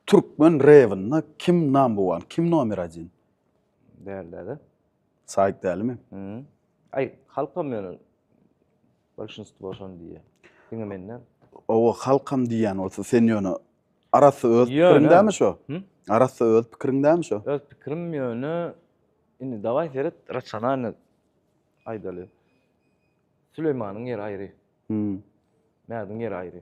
Türkmen rebinde kim number one, kim nomer adin? Däl däde. Saýyt dälimi? Hmm. Aý, halkam ýöne bolşinstwo şony diýýär. Diňe menden. Owa, halkam diýýän bolsa sen ýöne arassa öz Ýöne. pikiriň dämi şo? Him? Arassa öz pikiriň dämi şo? Öz pikirim ýöne indi dawaý seret rasionalny aýdaly. Süleýmanyň ýeri aýry, Hmm. Mädiň ýeri aýry.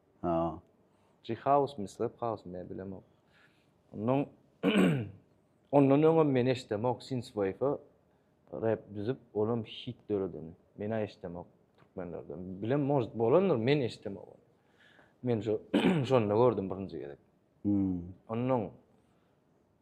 Ha. G-House mi, Slap House mi, bilemok. Ondan ondan öňem men eşdemok Synthwave rap düzüp, olam hit döredeni. Men-ä eşdemok türkmenlerden. Bilem, может, bolandyr, men eşdemok ony. Men şo şonda gördüm birinji gezek. Hmm. Ondan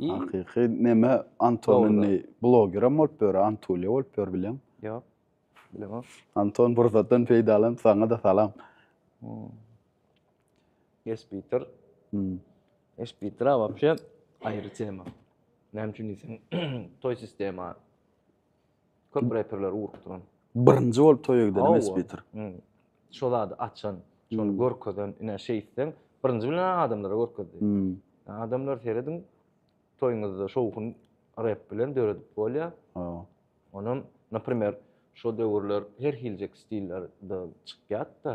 Hakyky neme Anton indi blogerem bolup ýör, Antulýa bolup ýör bileň. Ýok. Bilemok. Anton pursatdan peýdalanyp saňa-da salam. Espiter. Espiter-a wapşe aýry tema. Näme üçin diýseň, toý sistema. Köp reperleri urup duran. Birinji bolup toýa giden emes Peter. Şo zady açan, şony görkezen, ine şeýtseň, birinji bilen adamlara görkezdi. Adamlar serediň, toýuňyzda şowhun rep bilen döredip bolýar. Onam, naprimer, şo döwürler her hiljek stiller-de çykýardy-da.